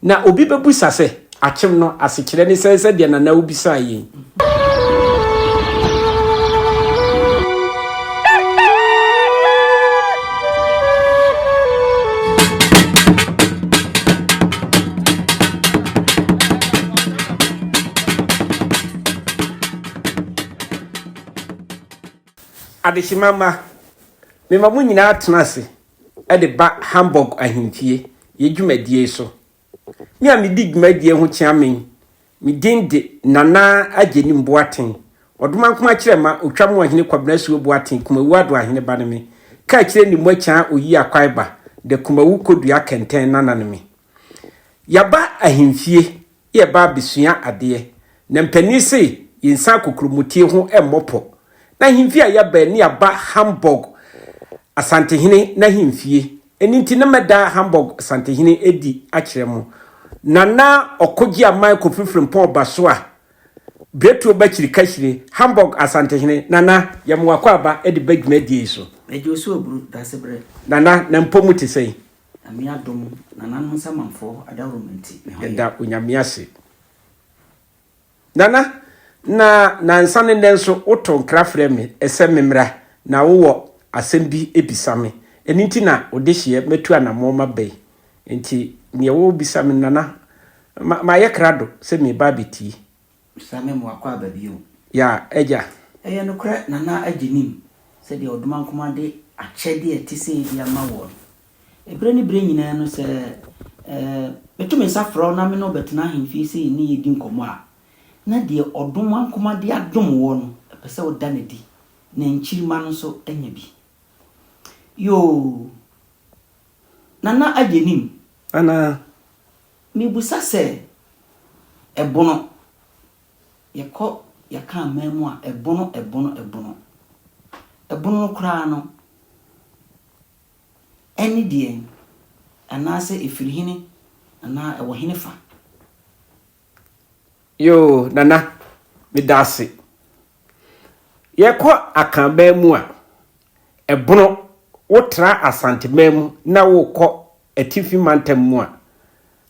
Na obi bɛbusa sɛ, Akyem no asekyerɛ ne sɛn sɛdeɛ Nana wobisaa yei? Adehyema mma, mema mo nyinaa tena ase de ba Hamburg Ahemfie yɛ dwumadie so. Me a medi dwumadie ho kyeame yi, me din de Nana Agyenim Boateng, Ɔdomankoma Kyerɛma Otwa mu Ɔhene Kwabena Asuo Boateng Kumawu Ado Ahene ba ne me, Kaakyire Nimwa Kyaa Oyi Akwae ba, The Kumawu Kodua Kɛntɛn Nana ne me. Yɛaba Ahemfie yɛba abɛsua adeɛ, na mpanin se yɛnsan kokuromotee ho mmɔ pɔ. N'ahemfie a yɛbaɛ ne yɛaba Hamburg Asantehene n'ahemfie, ɛno nti na mɛda Hamburg Asantehene adi akyerɛ mo. Nana Ɔkogye Aman Kofi Frimpong Ɔbasoa, Biretuo Bakyiri Kahyire, Hamburg Asantehene, Nana, yɛ mo akwaaba de ba dwumadie yi so. Agye Osuo Oburu, Dasebrɛ. Nana, na mpɔ mu te sɛn? Nyame adom Nana no nsa manfɔɔ adawurom nti me ho yɛ. Da Onyame ase. Nana, na nansa ne nnɛ nso wo to nkra frɛ me sɛ me mmra na wo wɔ asɛm bi bisa me, ɛno nti na wo dehyeɛ matu anamɔn maba yi, nti neɛ wo bisa me Nana, ma yɛ krado sɛ me reba abɛtie. Sa me mmoa kɔ aba bio. Ya agya. Ɛyɛ nokorɛ Nana Adjei nim sɛdeɛ Odomankoma de akyɛdeɛ a ɛte sei de ama wɔn. Ɛberɛ ne berɛ nyinaa no sɛ eh, meto me nsa frɛ wo na me ne wo bɛtena ahemfie sei ne yɛdi nkɔmmɔ a, na deɛ Odomankoma de adom woɔ no, ɛpɛ sɛ woda no adi, na nkyirimma no nso nya bi. Yoo, Nana Adjei nim. Anaa? Mibisa sɛ, Ɛbono? Yɛkɔ yɛka aman mu a, ɛbono, ɛbono, ɛbono. Ɛbono no koraa no, ɛne deɛn? Anaasɛ ɛfiri hene anaa ɛwɔ hene fa? Yoo, Nana, meda ase. Yɛkɔ Akanman mu a, ɛbono. Wotra Asanteman mu na worekɔ Atifi mantam mu a,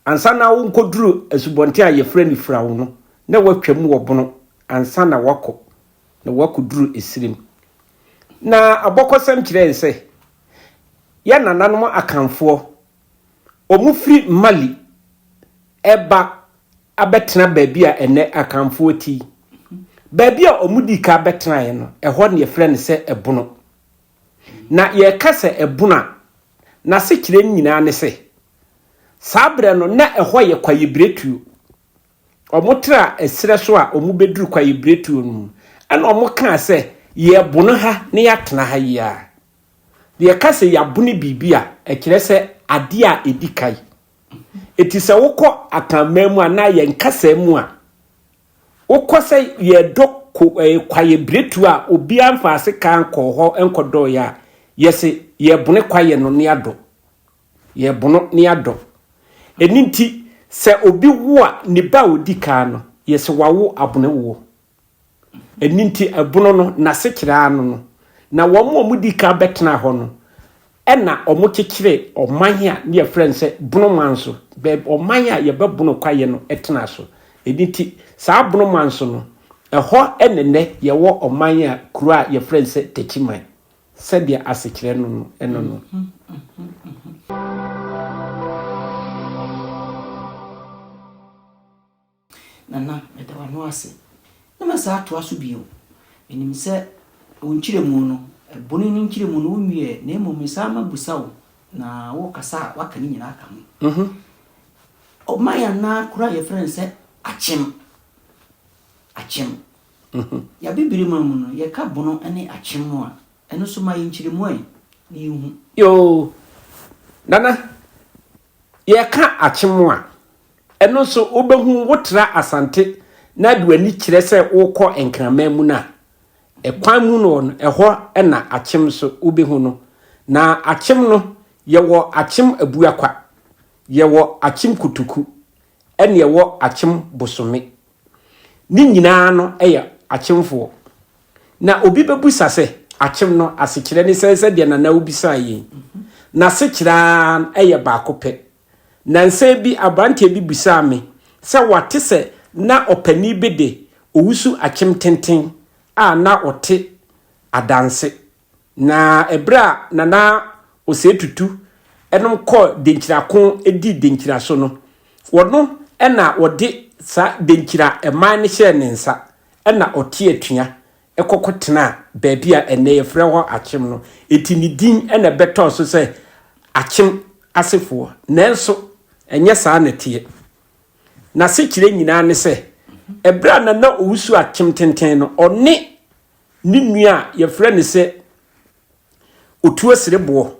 ansa na worekɔduru asubɔnten a wɔfrɛ no Firawo no, na wɔatwam wɔ Bono ansa na wɔakɔ na wɔakɔduru Esirim. Na abɔkɔsɛm kyerɛ yɛn sɛ, yɛn nananom Akanfoɔ, wɔfiri Mali reba abɛtena baabi a ɛnnɛ Akanfoɔ te yi. Baabi a wɔdii kan bɛtenaeɛ no, ɛhɔ na wɔfrɛ no sɛ Bono. Na yɛreka sɛ Bono a, N'asekyerɛ nyinaa ne sɛ, saa berɛ no na ɛhɔ yɛ kwaebiretuo. Wɔtraa ɛserɛ so a wɔbɛduru kwaebiretuo no mu. Ɛna wɔkaa sɛ, Yɛrebono ha na yɛatena ha yi ara. Yɛka sɛ yɛabono biribi a, ɛkyerɛ sɛ adeɛ a ɛdi kan. Enti sɛ wokɔ Akanman mu anaa yɛn kasa mu a, Wokɔ sɛ yɛredɔ ko ɛɛ kwayɛ biretuo a obiara nfa ase kaa nkɔɔ hɔ nkɔdɔɔeɛ a, yɛse yɛrebone kwayɛ no ne adɔ. Yɛrebono ne adɔ. Ɛno nti, sɛ obi wo a, ne ba a ɔdi kan no, yɛse wawo abone woɔ. Ɛno nti, ɛbono no, n'asekyerɛ ara no no. Na wɔn a wɔdi kan bɛtenaa hɔ no, Ɛna wɔkyekyeree ɔman a ne yɛfrɛ no sɛ Bono man so, baabi ɔman a yɛbɛ Bono kwaeɛ no tenaa so. Ɛno nti saa Bono man so no, ɛhɔ na nnɛ yɛwɔ ɔman a kuro a yɛfrɛ no sɛ Techiman, sɛdeɛ asekyerɛ no no ɛno no. Nana, meda w'ano ase. Na mɛsan atoa so bio. Menim sɛ wo nkyerɛmu no, Bone no nkyerɛmu no, wonwiee ɛ, na mmom mesan mabisa wo, na worekasa a, woaka ne nyinaa aka ho. Ɔma yɛn anan koro a wɔfrɛ no sɛ akyem. Akyem. Yɛn Abibire man mu no, yɛka bono ne akyem no a, ɛno nso ma yɛn nkyerɛmu ɛ, na yɛhu. Yoo. Nana, Yɛka Akyem a, ɛno nso wobɛhu wotra Asante na de w'ani kyerɛ sɛ worekɔ Nkraman mu no a, ɛkwan mu no no, ɛhɔ na Akyem nso wobɛhu no. Na Akyem no, yɛwɔ Akyem Abuakwa, yɛwɔ Akyem Kotoku, ɛne ɛwɔ Akyem Bosome. Ne nyinaa no yɛ akyemfoɔ. Na obi bɛbusa sɛ, akyem no asekyerɛ ne sɛn sɛdeɛ Nana wo bisaa yei? N'asekyerɛ ara yɛ baako pɛ. Nansa bi abranteɛ bi busaa me sɛ wate sɛ na ɔpanin bi de owusu akyem tenten a na ɔte adanse Na ɛberɛ a Nana Osei Tutu nom kɔɔ Denkyira ko dii Denkyira so no, wɔno na wɔde saa Denkyira man no hyɛɛ ne nsa na ɔte atua kɔ kɔtenaa baabi a ɛnnɛ yɛfrɛ hɔ Akyem no. Enti ne din na ɛbɛtɔɔ so sɛ Akyem asefoɔ. Nanso ɛnyɛ saa na ɛteɛ. N'asekyerɛ nyinaa ne sɛ, ɛberɛ a Nana Owusu Akyem Tenten no, ɔne ne nua a yɛfrɛ no sɛ Otuo-Sereboɔ.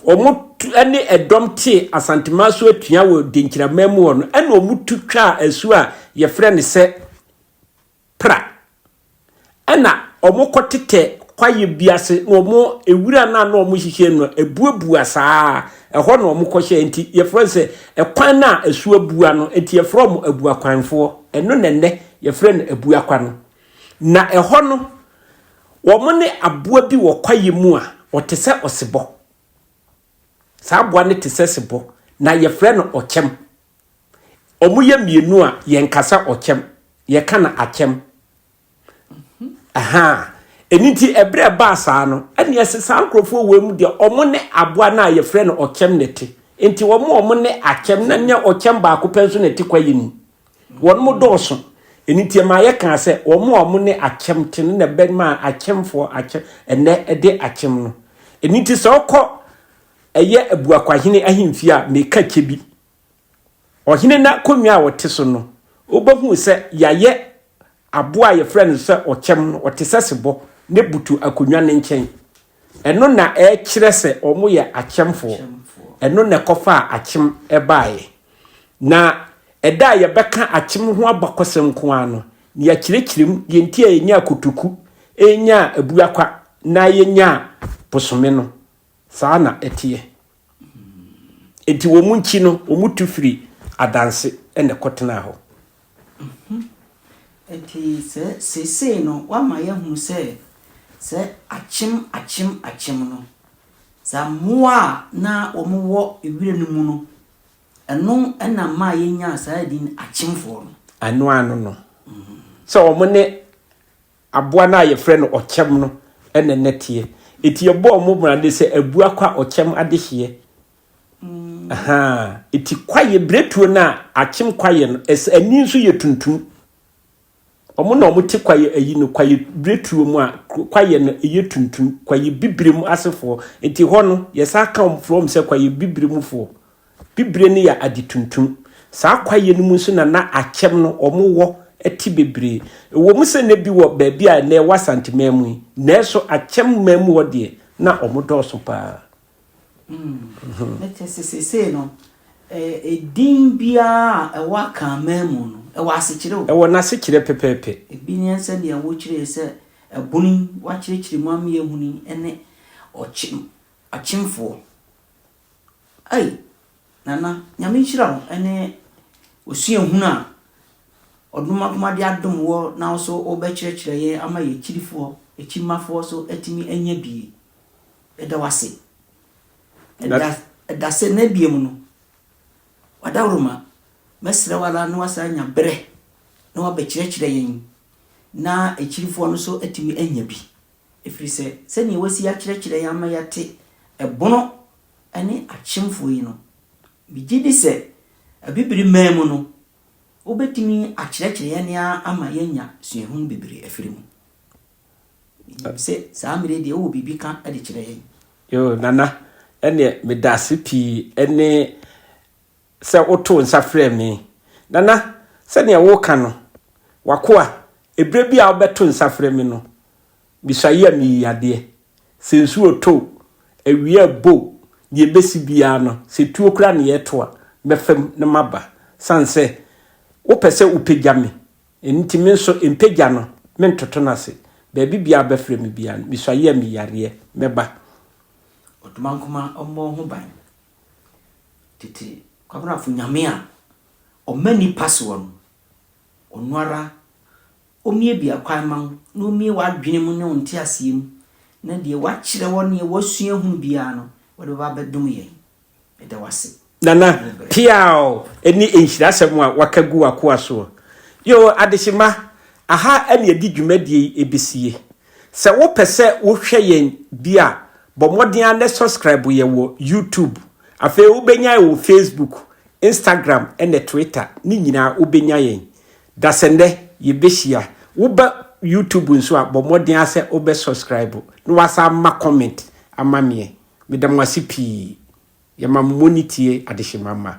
Wɔn tu ne ɛdɔm tee Asantema so atua wɔ Denkyiraman mu hɔ no, ɛna wɔn tu twaa asuo a yɛfrɛ no sɛ Pra. Ɛna wɔn kɔ tetɛ kwaeɛ bi ase na wɔn ewira no a na wɔn hyehyɛ no ebuebua saa ɛhɔ na wɔn kɔ hyɛ nti yɛfrɛ no sɛ ɛkwan no a asuo abua no nti yɛfrɛ wɔn abuakwanfoɔ ɛno na ɛnɛ yɛfrɛ no abuakwa no. Na ɛhɔ no, wɔne aboa bi wɔ kwaeɛ mu a ɔte sɛ ɔsebɔ. Saa aboa no te sɛ sebɔ, na yɛfrɛ no ɔkyɛm. Wɔyɛ mmienu a, yɛnka sɛ ɔkyɛm, yɛka no akyɛm. Aha. Ɛno nti, ɛberɛ a ɛbaa saa no, ɛne ɛsɛ saa nkurɔfoɔ wei mu deɛ, wɔn ne aboa no a yɛfrɛ no ɔkyɛm na ɛte. Nti wɔn a wɔn ne akyɛm, na nyɛ ɔkyɛm baako pɛ nso na ɛte kwaeɛ mu. Wɔnom dɔɔso, ɛno nti ɛmaa yɛkaa sɛ wɔn a wɔn ne akyɛm te no na ɛbɛmaa akyɛmfoɔ akyɛ ɛnnɛ de akyɛm no. Ɛno nti sɛ wokɔ ɛyɛ Abuakwahene ahemfie a, meka kyɛ bi, ɔhene no akonnwa a ɔte so no, wobɛhunu sɛ yɛayɛ Aboa a wɔfrɛ no sɛ ɔkyɛm no, ɔte sɛ sebɔ na ebutu akonnwa no nkyɛn. Ɛno na ɛkyerɛ sɛ wɔyɛ akyɛmfoɔ. Ɛno na ɛkɔfaa akyem baeɛ. Na ɛda a yɛbɛka akyem ho abakɔsɛm nko ara no, na yɛakyerɛkyerɛ mu deɛ nti a yɛnyaa kotoku, yɛnyaa abuakwa, na yɛnyaa bosome no. Saa na ɛteɛ. Enti wɔn nkyi no, wɔn tu firi adanse na ɛkɔtenaa hɔ. Mhm. Enti sɛ seesei no woama yɛahunu sɛ, sɛ akyem akyem akyem no, sɛ mmoa a na wɔwɔ wira no mu no, ɛno na maa yɛnyaa saa din akyemfoɔ no. Ɛno ano no, sɛ wɔn ne Aboa no a wɔfrɛ no ɔkyɛm no na na ɛteɛ. Enti yɛbɔɔ wɔn mmrade sɛ abua kwa ɔkyɛm adehyeɛ. Ahaa. Enti kwaeɛ, biretuo no a akyem kwaeɛ no, ɛsɛ ani nso yɛ tuntum. Wɔn na wɔte kwaeɛ ayi no, kwaeɛ biretuo mu a kwaeɛ no yɛ tuntum, kwaeɛ bibire mu asefoɔ. Enti hɔ no, yɛsan ka wɔn frɛ wɔn sɛ kwaeɛ bibire mufoɔ. Bibire no yɛ ade tuntum. Saa kwaeɛ no mu nso na na akyɛm no wɔwɔ te bebree. Ɛwom sɛ na bi wɔ baabi a nnɛ ɛwɔ Asante man mu yi, nanso akyɛm man mu hɔ deɛ, na wɔdɔɔso pa ara. Na kyerɛ sɛ seesei no, edin biara a ɛwɔ Akan man mu no, ɛwɔ asekyerɛ o. Ɛwɔ n'asekyerɛ pɛpɛɛpɛ. Ebi ne sɛdeɛ wɔkyerɛɛ sɛ ɛbono yi, wɔakyerɛkyerɛ mu ama yɛahunu yi ne ɔkyem, ɔkyemfoɔ. Ei Nana Nyame nhyira wo ne osuahunu a ɔdom akoma de adom woɔ na wo nso wobɛkyerɛkyerɛ yɛn ama yɛn akyirifoɔ, akyirimafoɔ nso atumi anya bi. Yɛda wo ase. Ɛda, ɛda sɛ na biem no, w'adaworoma, mɛsrɛ wo ara na wasan anya berɛ na wabɛkyerɛkyerɛ yɛn na akyirifoɔ no nso atumi anya bi. Ɛfiri sɛ sɛdeɛ wasi akyerɛkyerɛ yɛn ama yɛate ɛbono ne akyemfoɔ yi no, megye di sɛ abibire man mu no, wobɛtumi akyerɛkyerɛ yɛn ara ama yɛanya suahunu bebree afiri mu. Menim sɛ saa mmerɛ yi deɛ wowɔ biribi ka de kyerɛ yɛn. Yoo, Nana, ɛnneɛ meda ase pii ne sɛ wotoo nsa frɛɛ me. Nana, sɛdeɛ woreka no, w'akoa, ɛberɛ bi a wobɛto nsa frɛ me no, mesuaeɛ a meyii adeɛ. Sɛ nsuo retɔ o, awia rebɔ o, deɛ ɛbɛsi biara no, sɛ tuo koraa na yɛreto a, mɛfa mu na maba. Sane sɛ wopɛ sɛ wopagya me, ɛno nti me nso mpagya no, mentoto no ase. Baabi biara a wobɛfrɛ me biara no, mesuaeɛ a meyii adeɛ, mɛba. Odumankumaa mmɔ ho ban. Tete Kwabrafo Nyame a ɔma nnipa soɔ no, Ɔno ara Ɔmmue biakwan mma wo, na Ɔmmue w'adwene mu ne wo nteaseɛ mu, na deɛ Wakyerɛ wɔ neɛ woasua ahunu biara no, Wode bɛba abɛdom yɛn. Yɛda Wo ase. Nana, peaw, ɛne nhyirasɛm a waka gu w'akoa soɔ. Yoo, adehyema, aha ɛne yɛde dwumadie yi ɛbɛsie. Sɛ wo pɛ sɛ wo hwɛ yɛn bi a bɔ mmɔden ara nɛ subscribe yɛn wɔ YouTube afei wo bɛ nya yɛn wɔ Facebook, Instagram ɛnɛ Twitter ne nyinaa wo bɛ nya yɛn da sɛ nɛ yɛ bɛ hyia wo ba YouTube nso a bɔ mmɔden ara sɛ wo bɛ subscribe na wa san ma comment ama meɛ me da mo ase pii yɛ ma mo mɔ ne tie adehyema mma.